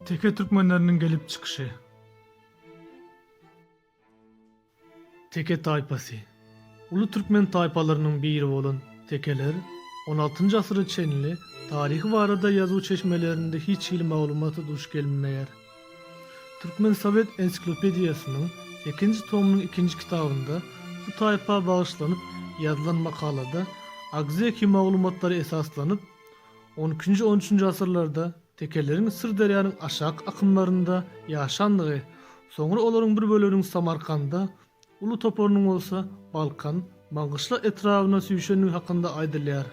Teke türkmenleriniň gelip çykyşy. Teke taýpasy. Uly türkmen taýpalarynyň biri bolan tekeler on altynjy asyra çenli taryhy barada ýazuw çeşmelerinde hiç hili maglumata duş gelmeýär. Türkmen sowet ensiklopediýasynyň sekinji tomynyň ikinji kitabynda bu taýpa bagyşlanyp ýazylan makalada agzeki maglumatlara esaslanyp, on ikinji-on üçünji asyrlarda tekeleriň Syrderýanyň aşak akymlarynda ýaşandygy, soňra olaryň bir böleginiň Samarkanda, Uly toparynyň bolsa Balkan, Maňgyşla etrabyna süýşendigi hakynda aýdylýar.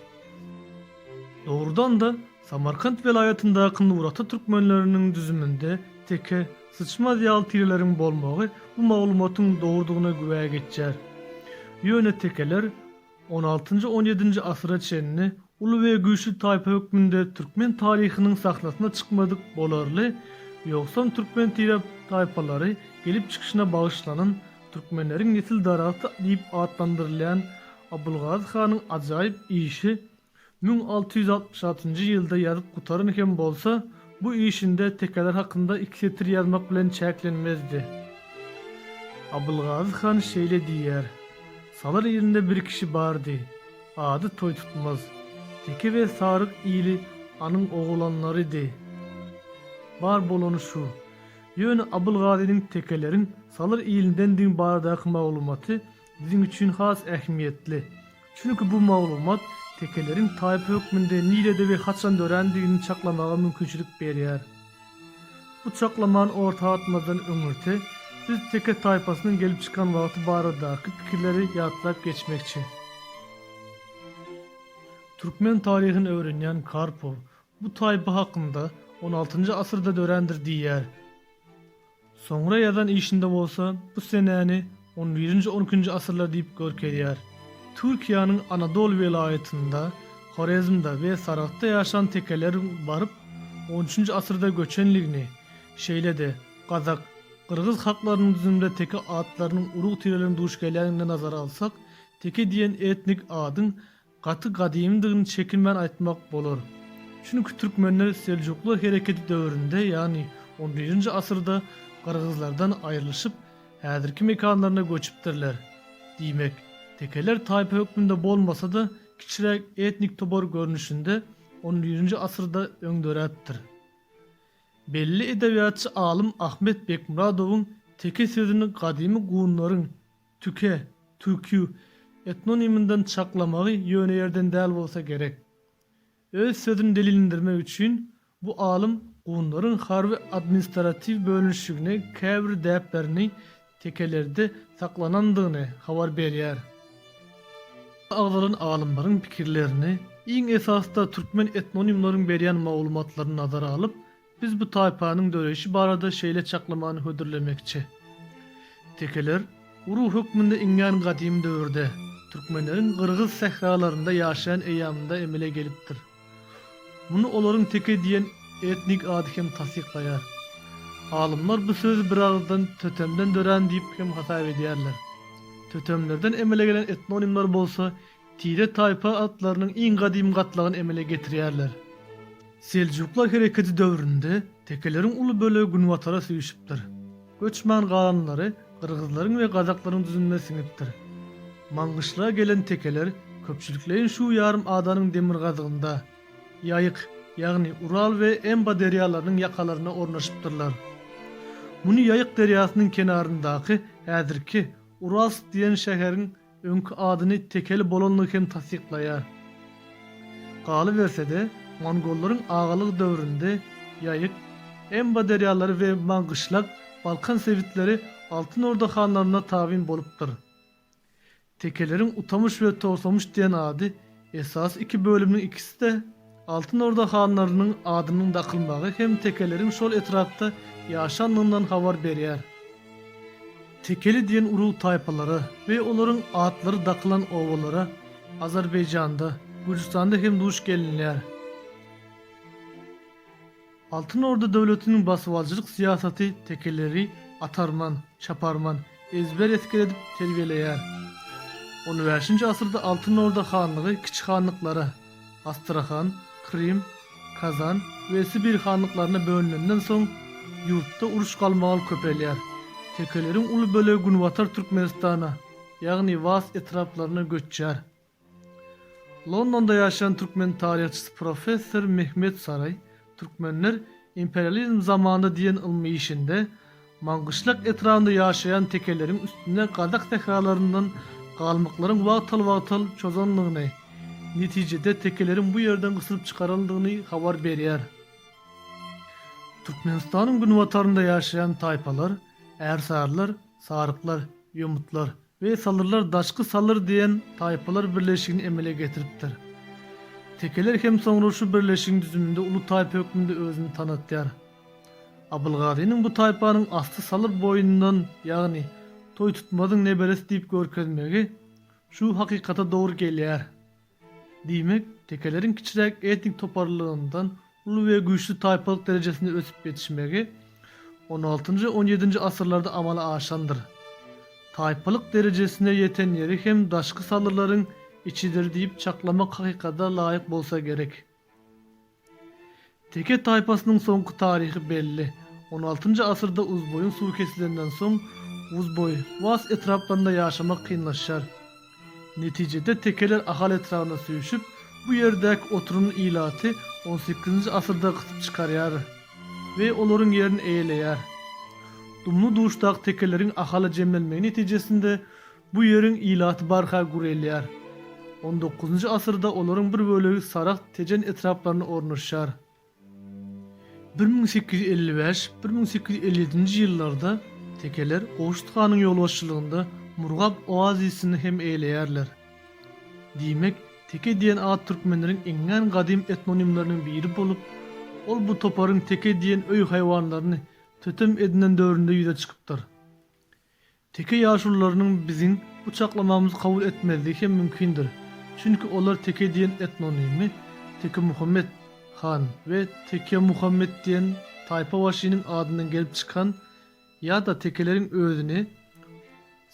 Dogrudan-da, Samarkant welaýatyndaky Nurata türkmenleriniň düzüminde teke, syçmaz ýaly tireleriň bolmagy bu maglumatyň dogrudygyna güwä geçýär. Ýöne tekeler, On altynjy, on ýedinji asyra çenli uly we güýçli taýpa hökmünde türkmen taryhynyň sahnasyna çykmadyk bolarly, ýogsam türkmen tirap taýpalary gelip çykyşyna bagyşlanan Türkmenleriň nesil daragty diýip atlandyrylýan Abylgazy hanyň ajaýyp işi Müň alty ýüz altmyş altynjy ýylda ýazyp gutaran hem bolsa, bu işinde tekeler hakynda iki setir ýazmak bilen çäklenmezdi. Abylgazy han şeýle diýýär, Salar ilinde bir kişi bardy. Ady Toýtutmaz. Teke we saryk ili anyň oglanlarydy. Bar bolany şu. Ýöne Abylgazynyň tekeleriň Salar ilindendigiň baradaky maglumaty biziň üçin has ähmiýetli. Çünki bu maglumat tekeleriň taýpa hökmünde nirede we haçan dörändigini çaklamaga mümkinçilik berýär. Bu çaklamany orta atmazdan öňürti biz teke taýpasynyň gelip çykan wagty baradaky pikirleri ýatlap geçmekçi. Türkmen taryhyny öwrenýän Karpow bu taýpa hakynda on altynjy asyrda dörändir diýýär. Soňra ýazan işinde bolsa bu senäni on birinji-on ikinji asyrlar diýip görkezýär. Türkiýäniň Anadol welaýatynda, Horezmde we Saragtda ýaşan tekeleriň baryp on üçünji asyrda göçenligini, şeýle-de gazak, gyrgyz halklarynyň düzüminde teke atlarynyň urug-tireleriniň duş gelýänligini nazara alsak, teke diýen etnik adyň gaty gadymydygyny çekinmän aýtmak bolar. Çünki türkmenler Seljuklar hereketi döwründe, ýagny on birinji asyrda gyrgyzlardan aýrylyşyp, häzirki mekanlaryna göçüpdirler. Diýmek, tekeler taýpa hökmünde bolmasa-da, kiçiräk etnik topar görnüşinde on birinji asyrda öň döräpdir. Belli edebiýatçy alym Ahmet Bekmyradowyň teke sözüni gadymy gunlaryň, Tüke, Tükü, etnoniminden çaklamagy ýöne ýerden däl bolsa gerek. Öz sözüni delilindirmek üçin bu alym gunlaryň harby administratiw bölünişigine käbir däplerini tekelerde saklanandygyny habar berýär. Agzalan alymlaryň pikirlerini, iň esasda türkmen etnonimleriň berýän maglumatlaryny nazara alyp, Biz bu taýpanyň döreýşi barada şeýle çaklamany hödürlemekçi. Tekeler, urug hökmünde iňňän gadymy döwürde, türkmenleriň gyrgyz sähralarynda ýaşaýan eýýamynda emele gelipdir. Muny olaryň teke diýen etnik ady hem tassyklaýar. Alymlar bu sözi biragyzdan tötemden dörän diýip hem hasap edýärler. Tötemlerden emele gelen etnonimler bolsa Tire-taýpa atlarynyň iň gadymy gatlagyny emele getirýärler. Seljuklar hereketi döwründe tekeleriň uly bölegi günbatara süýşüpdir. Göçman galanlary gyrgyzlaryň we gazaklaryň düzümine siňipdir. Maňgyşlara gelen tekeler köpçülikleýin şu ýarym adanyň demirgazygynda, Ýaýyk, ýagny Ural we Emba derýalarynyň ýakalarynda ornaşypdyrlar. Muny Ýaýyk derýasynyň kenaryndaky, häzirki, Uralsk diýen şäheriň, öňki adyny Tekeli bolandygy hem tassyklaýar. Galyberse-de, mongollaryň agalygy döwründe Ýaýyk, Emba derýalary we Maňgyşlak, Balkan sebitleri Altyn Orda hanlaryna tabyn bolupdyr. Tekeleriň Utamyş we Togtamyş diýen ady Esasy iki bölümiň ikisi-de Altyn Orda hanlarynyň adynyň dakylmagy hem tekeleriň şol etrapda ýaşandygyndan habar berýär. Tekeli diýen urug-taýpalara we olaryň atlary dakylan obalara Azerbaýjanda, Gürjüstanda hem duş gelinýär. Altyn Orda döwletiniň basybaljylyk syýasaty tekeleri atarman, çaparman, ezber esger edip terbiýeleýär. On bäşinji asyrda Altyn Orda hanlygy kiçi hanlyklara, Astrahan, Krym, Kazan we Sibir hanlyklaryna bölünenden soň, ýurtda uruş-galmagal köpelýär. Tekeleriň uly bölegi günbatar Türkmenistana, ýagny Vas etraplaryna göçýär. Londonda ýaşaýan türkmen taryhçysy professor Mehmet Saray Türkmenler imperializm zamanynda diýen ylmy işinde Maňgyşlak etrabynda ýaşaýan tekeleriň üstüne gazak sähralaryndan galmyklaryň wagtal-wagtal çozandygyny, netijede tekeleriň bu ýerden gysylyp çykarylandygyny habar berýär. Türkmenistanyň günbatarynda ýaşaýan taýpalar, ärsarylar, saryklar, ýomutlar, We salyrlar daşky salyr diýen taýpalar birleşigini emele getiripdir. Tekeler hem soňra şu birleşigiň düzüminde uly taýpa hökmünde özüni tanatýar. Abylgazynyň bu taýpanyň asly salyr boýundan, ýagny Toýtutmazyň neberesi diýip görkezmegi şu hakykata dogry gelýär. Diýmek, tekeleriň kiçiräk etnik toparlylygyndan uly we güýçli taýpalyk derejesinde ösüp ýetişmegi on altynjy, on ýedinji asyrlarda amala aşandyr. Taýpalyk derejesine ýeten ýeri hem daşky salyrlaryň içidir diýip çaklamak hakykada laýyk bolsa gerek. Teke taýpasynyň soňky taryhy belli. On altynjy asyrda Uzboýuň suwy kesilenden soň, Uzboý, Was etraplarynda ýaşamak kynlaşar. Netijede tekeler Ahal etrabyna süýşüp, bu ýerdäki oturyny ilaty on sekizinji asyrda gysyp çykarýar we olaryň ýerini eýeleýär. Dumly-duşdaky tekeleriň Ahala jemlenmegi netijesinde Bu ýeriň ilaty barha gürelýär. On dokuzynjy asyrda olaryň bir bölegi Saragt, Tejen etraplarynda ornaşýar. Bir müň sekiz ýüz elli bäş, bir müň sekiz ýüz elli ýedinji ýyllarda tekeler Gowşut hanyň ýolbaşçylygynda Murgap oazisini hem eýeleýärler. Diýmek, Teke diýen at türkmenleriň iňňän gadym etnonimleriniň biri bolup, ol bu toparyň teke diýen öý haýwanlaryny tötem edinen döwründe ýüze çykypdyr. Teke ýaşulularynyň biziň bu çaklamamyzy kabul etmezligi hem mümkindir, çünki olar Teke diýen etnonymy, Tekemuhammet han we Tekemuhammet diýen taýpabaşynyň adyndan gelip çykan ýa-da tekeleriň özüni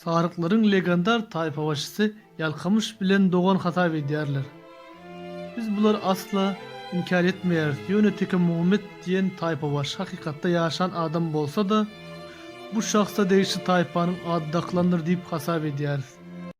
saryklaryň legandar taýpabaşysy Ýalkymyş bilen dogan hasap edýärler. Biz bulary asla inkär etmeýäris, ýöne Tekemuhammet diýen taýpabaşy hakykatda ýaşan adam bolsa-da, bu şahsa degişli taýpanyň ady dakylandyr diýip hasap edýäris.